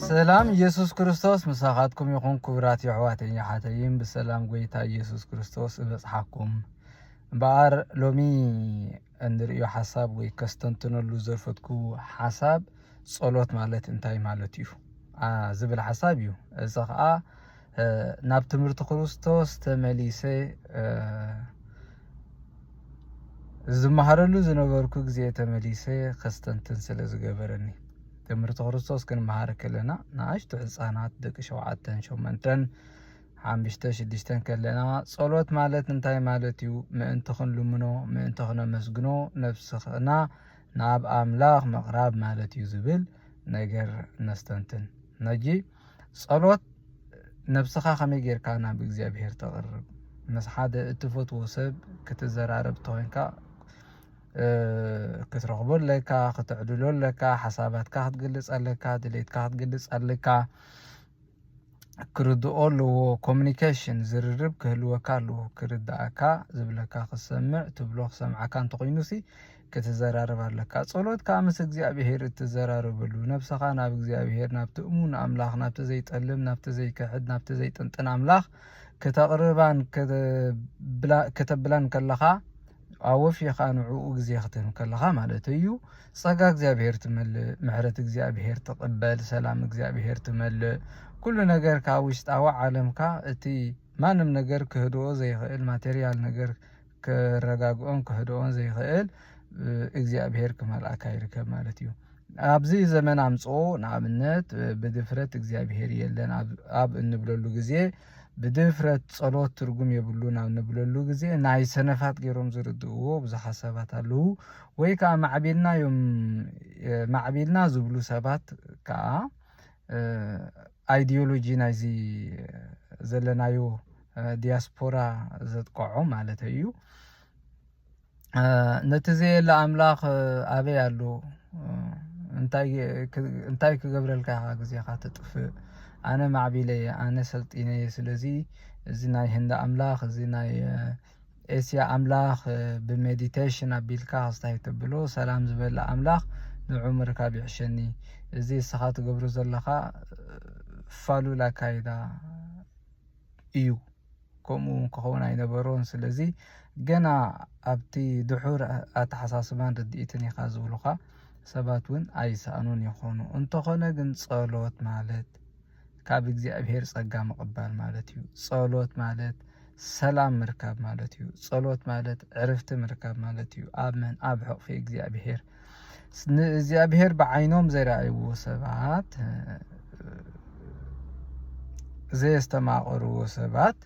ሰላም ኢየሱስ ክርስቶስ ምሳኻትኩም ይኹን ክቡራት የሕዋተይን የሓተይን ብሰላም ጎይታ ኢየሱስ ክርስቶስ እበጽሓኩም እምበኣር ሎሚ እንርእዮ ሓሳብ ወይ ከስተንትነሉ ዘፈትኩ ሓሳብ ጸሎት ማለት እንታይ ማለት እዩ ዝብል ሓሳብ እዩ። እዚ ኸኣ ናብ ትምህርቲ ክርስቶስ ተመሊሰ ዝመሃረሉ ዝነበርኩ ግዜ ተመሊሰ ከስተንትን ስለ ዝገበረኒ ትምህርቲ ክርስቶስ ክንመሃር ከለና ንኣሽቱ ህፃናት ደቂ ሸውዓተን ሸሞንተን ሓምሽተ ሽዱሽተን ከለና ጸሎት ማለት እንታይ ማለት እዩ ምእንቲ ክንልምኖ ምእንቲ ክነመስግኖ ነፍስና ናብ ኣምላኽ ምቕራብ ማለት እዩ ዝብል ነገር ነስተንትን ነጂ ጸሎት ነብስኻ ከመይ ጌርካ ናብ እግዚኣብሄር ተቕርብ ምስ ሓደ እትፈትዎ ሰብ ክትዘራረብ እንተኮንካ ክትረኽቦ ኣለካ ክትዕድሎ ኣለካ ሓሳባትካ ክትገልጽ ኣለካ ድሌትካ ክትገልጽ ኣለካ ክርድኦ ኣለዎ ኮሚኒኬሽን ዝርርብ ክህልወካ ኣለዎ ክርድኣካ ዝብለካ ክሰምዕ ትብሎ ክሰምዓካ እንተኾይኑሲ ክትዘራረብ ኣለካ ጸሎት ከዓ ምስ እግዚኣብሄር እትዘራረበሉ ነብሰኻ ናብ እግዚኣብሄር ናብቲ እሙን ኣምላኽ ናብቲ ዘይጠልም ናብቲ ዘይክሕድ ናብቲ ዘይጥንጥን ኣምላኽ ከተቕርባን ከተብላን ከለኻ ኣወፊኻ ንዕኡ ግዜ ክትህብ ከለኻ ማለት እዩ ጸጋ እግዚኣብሔር ትመልእ፣ ምሕረት እግዚኣብሔር ትቕበል፣ ሰላም እግዚኣብሔር ትመልእ፣ ኩሉ ነገርካ ውሽጣዊ ዓለምካ እቲ ማንም ነገር ክህድኦ ዘይኽእል ማቴርያል ነገር ክረጋግኦን ክህድኦን ዘይኽእል እግዚኣብሔር ክመልኣካ ይርከብ ማለት እዩ። ኣብዚ ዘመን ኣምጽኦ ንኣብነት ብድፍረት እግዚኣብሔር የለን ኣብ እንብለሉ ግዜ ብድፍረት ጸሎት ትርጉም የብሉን ኣብ ንብለሉ ግዜ ናይ ሰነፋት ገይሮም ዝርድእዎ ብዙሓት ሰባት ኣለዉ። ወይ ከኣ ማዕቢልና እዮም ማዕቢልና ዝብሉ ሰባት ከኣ ኣይድዮሎጂ ናይዚ ዘለናዮ ዲያስፖራ ዘጥቀዖ ማለተይ እዩ። ነቲ ዘየለ ኣምላኽ ኣበይ ኣሎ እንታይ ክገብረልካ ኢኻ ግዜኻ ተጥፍእ ኣነ ማዕቢለ እየ ኣነ ሰልጢነ እየ ስለዚ እዚ ናይ ህንዲ ኣምላኽ እዚ ናይ ኤስያ ኣምላኽ ብሜዲቴሽን ኣቢልካ ክስታይ ተብሎ ሰላም ዝበለ ኣምላኽ ንዑ ምርካብ ይሕሸኒ እዚ እስኻ ትገብሮ ዘለኻ ፋሉል ኣካይዳ እዩ ከምኡ ክኸውን ኣይነበሮን ስለዚ ገና ኣብቲ ድሑር ኣተሓሳስባን ርድኢትን ኢኻ ዝብሉኻ ሰባት እውን ኣይሰኣኑን ይኾኑ እንተኾነ ግን ጸሎት ማለት ካብ እግዚኣብሔር ጸጋ ምቕባል ማለት እዩ ጸሎት ማለት ሰላም ምርካብ ማለት እዩ ጸሎት ማለት ዕርፍቲ ምርካብ ማለት እዩ ኣብ መን ኣብ ሕቕፊ እግዚኣብሔር ንእግዚኣብሔር ብዓይኖም ዘይረኣይዎ ሰባት ዘየስተማቐርዎ ሰባት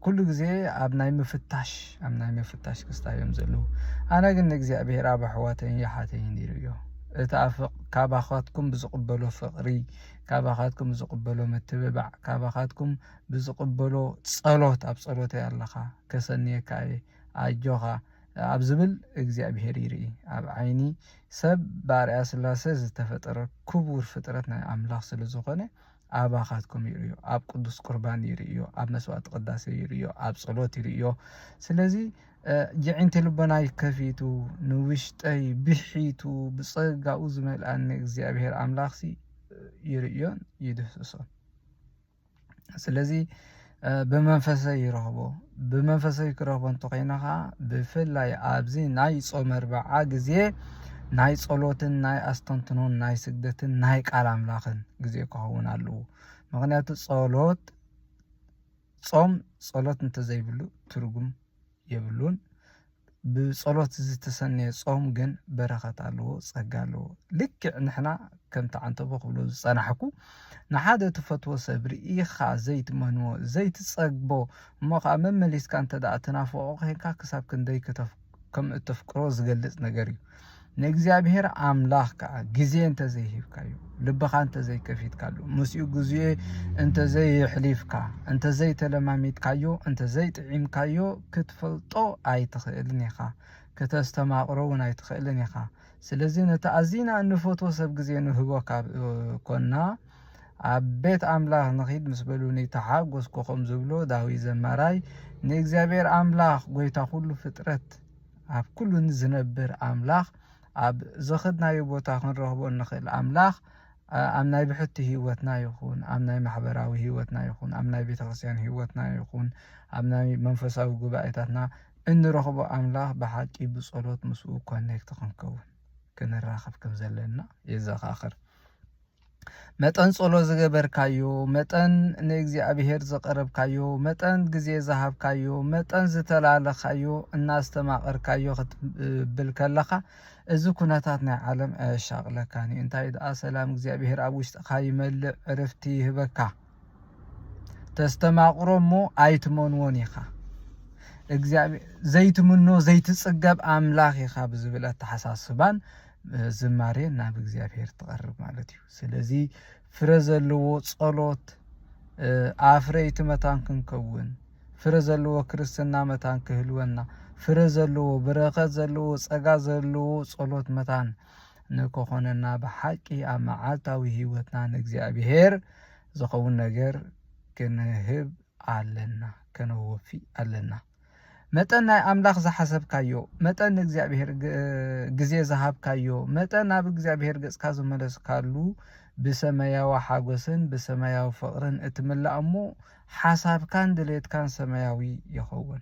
ኩሉ ግዜ ኣብ ናይ ምፍታሽ ኣብ ናይ ምፍታሽ ክስታ እዮም ዘለዉ ኣነ ግን ንእግዚኣብሔር ኣብ ኣሕዋተይን የሓተይን ነይሩ እዮ እቲ ካባኻትኩም ብዝቕበሎ ፍቕሪ ካባኻትኩም ብዝቕበሎ ምትብባዕ ካባኻትኩም ብዝቕበሎ ጸሎት ኣብ ጸሎተይ ኣለኻ ከሰንየካ እየ ኣጆኻ ኣብ ዝብል እግዚኣብሄር ይርኢ። ኣብ ዓይኒ ሰብ ብኣርኣያ ስላሰ ዝተፈጠረ ክቡር ፍጥረት ናይ ኣምላኽ ስለ ዝኾነ ኣባኻትኩም ይርእዮ። ኣብ ቅዱስ ቁርባን ይርእዮ፣ ኣብ መስዋዕቲ ቅዳሴ ይርእዮ፣ ኣብ ጸሎት ይርእዮ። ስለዚ ጅዒንቲ ልቦናይ ከፊቱ ንውሽጠይ ብሒቱ ብጸጋኡ ዝመልኣኒ እግዚኣብሄር ኣምላኽሲ ይርእዮን ይድህስሶን። ስለዚ ብመንፈሰይ ይረኽቦ ብመንፈሰይ ክረኽቦ እንተኾይነ ከዓ ብፍላይ ኣብዚ ናይ ጾመ ኣርብዓ ግዜ ናይ ጸሎትን ናይ ኣስተንትኖን ናይ ስግደትን ናይ ቃል ኣምላኽን ግዜ ክኸውን ኣለዎ ምክንያቱ ጸሎት ጾም ጸሎት እንተዘይብሉ ትርጉም የብሉን ብጸሎት ዝተሰነየ ጾም ግን በረኸት ኣለዎ ጸጋ ኣለዎ ልክዕ ንሕና ከምቲ ዓንተቦ ክብሎ ዝጸናሕኩ ንሓደ ትፈትዎ ሰብ ርኢኻ ዘይትመንዎ ዘይትጸግቦ እሞ ከኣ መመሊስካ እንተ ትናፍቆ ኮንካ ክሳብ ክንደይ ከም እተፍቅሮ ዝገልጽ ነገር እዩ ንእግዚኣብሔር ኣምላኽ ከዓ ግዜ እንተዘይሂብካዩ ልብኻ እንተዘይከፊትካሉ ምስኡ ግዜ እንተዘይሕሊፍካ እንተዘይተለማሚድካዮ እንተዘይጥዒምካዮ ክትፈልጦ ኣይትኽእልን ኢኻ ክተስተማቕሮ እውን ኣይትኽእልን ኢኻ ስለዚ ነቲ ኣዚና እንፈትዎ ሰብ ግዜ ንህቦ ካብ ኮና ኣብ ቤት ኣምላኽ ንኺድ ምስ በሉኒ ተሓጎስኩ ከም ዝብሎ ዳዊት ዘማራይ ንእግዚኣብሔር ኣምላኽ ጎይታ ኩሉ ፍጥረት ኣብ ኩሉ ዝነብር ኣምላኽ ኣብ ዝኸድናዮ ቦታ ክንረኽቦ እንኽእል ኣምላኽ ኣብ ናይ ብሕቲ ህይወትና ይኹን ኣብ ናይ ማሕበራዊ ህይወትና ይኹን ኣብ ናይ ቤተክርስትያን ህይወትና ይኹን ኣብ ናይ መንፈሳዊ ጉባኤታትና እንረኽቦ ኣምላኽ ብሓቂ ብጸሎት ምስኡ ኮኔክት ክንከውን ክንራኸብ ከም ዘለና የዘኻኽር። መጠን ጸሎት ዝገበርካዮ መጠን ንእግዚኣብሔር ዘቐረብካዮ መጠን ግዜ ዝሃብካዮ መጠን ዝተላለኻዮ እናስተማቐርካዮ ክትብል ከለኻ እዚ ኩነታት ናይ ዓለም ኣየሻቕለካን እዩ እንታይ ደኣ ሰላም እግዚኣብሔር ኣብ ውሽጥኻ ይመልእ ዕርፍቲ ይህበካ ተስተማቕሮ እሞ ኣይትመንዎን ኢኻ እግዚኣብሔር ዘይትምኖ ዘይትጽገብ ኣምላኽ ኢኻ ብዝብል ኣተሓሳስባን ዝማሬ ናብ እግዚኣብሔር ትቐርብ ማለት እዩ ስለዚ ፍረ ዘለዎ ጸሎት ኣፍረይቲ መታን ክንከውን ፍረ ዘለዎ ክርስትና መታን ክህልወና ፍረ ዘለዎ ብረኸት ዘለዎ ጸጋ ዘለዎ ጸሎት መታን ንክኾነና ብሓቂ ኣብ መዓልታዊ ህይወትና ንእግዚኣብሔር ዝኸውን ነገር ክንህብ ኣለና ከነወፊ ኣለና መጠን ናይ ኣምላኽ ዝሓሰብካዮ መጠን ንእግዚኣብሄር ግዜ ዝሃብካዮ መጠን ናብ እግዚኣብሄር ገጽካ ዝመለስካሉ ብሰማያዊ ሓጎስን ብሰማያዊ ፍቕርን እትምላእ እሞ ሓሳብካን ድሌትካን ሰማያዊ ይኸውን።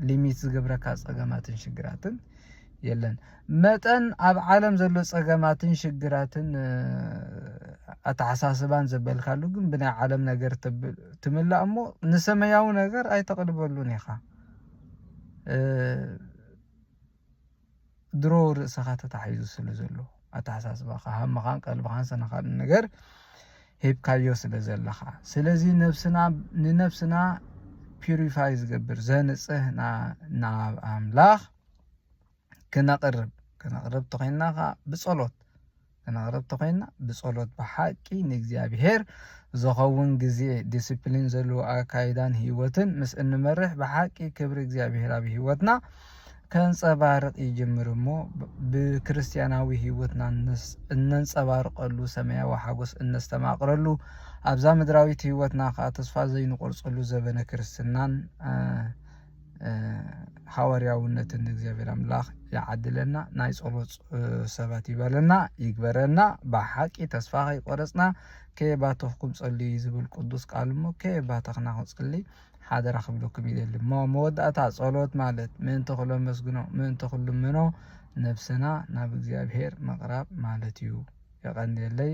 ሊሚት ዝገብረካ ጸገማትን ሽግራትን የለን መጠን ኣብ ዓለም ዘሎ ጸገማትን ሽግራትን ኣተሓሳስባን ዘበልካሉ ግን ብናይ ዓለም ነገር ትምላእ እሞ ንሰማያዊ ነገር ኣይተቕልበሉን ኢኻ ድሮ ርእሰኻ ተታሒዙ ስለ ዘሎ ኣተሓሳስባኻ ሃምኻን ቀልብኻን ሰነኻን ነገር ሂብካዮ ስለ ዘለኻ ስለዚ ነብስና ንነብስና ፒሪፋይ ዝገብር ዘንጽህ ናብ ኣምላኽ ክነቕርብ ክነቕርብ ተኾይንና ከዓ ብጸሎት ክነቕርብ ተኾይንና ብጸሎት ብሓቂ ንእግዚኣብሔር ዝኸውን ግዜ ዲስፕሊን ዘለዎ ኣካይዳን ህይወትን ምስ እንመርሕ ብሓቂ ክብሪ እግዚኣብሔር ኣብ ህይወትና ከንጸባርቕ ይጅምር እሞ ብክርስትያናዊ ህይወትና እነንጸባርቐሉ ሰማያዊ ሓጎስ እነስተማቕረሉ ኣብዛ ምድራዊት ህይወትና ከዓ ተስፋ ዘይንቆርጸሉ ዘበነ ክርስትናን ሃዋርያውነትን ንእግዚኣብሔር ኣምላኽ ይዓድለና ናይ ጸሎት ሰባት ይበለና ይግበረና ብሓቂ ተስፋ ከይቆረጽና ከየባተኽኩም ጸልዩ ዝብል ቅዱስ ቃል እሞ ከየባተኽና ክንጽሊ ሓደራ ክብለኩም ይደሊ እሞ መወዳእታ ጸሎት ማለት ምእንቲ ኩሎ መስግኖ ምእንቲ ኩሉ ምኖ ነብስና ናብ እግዚኣብሔር ምቕራብ ማለት እዩ የቐንየለይ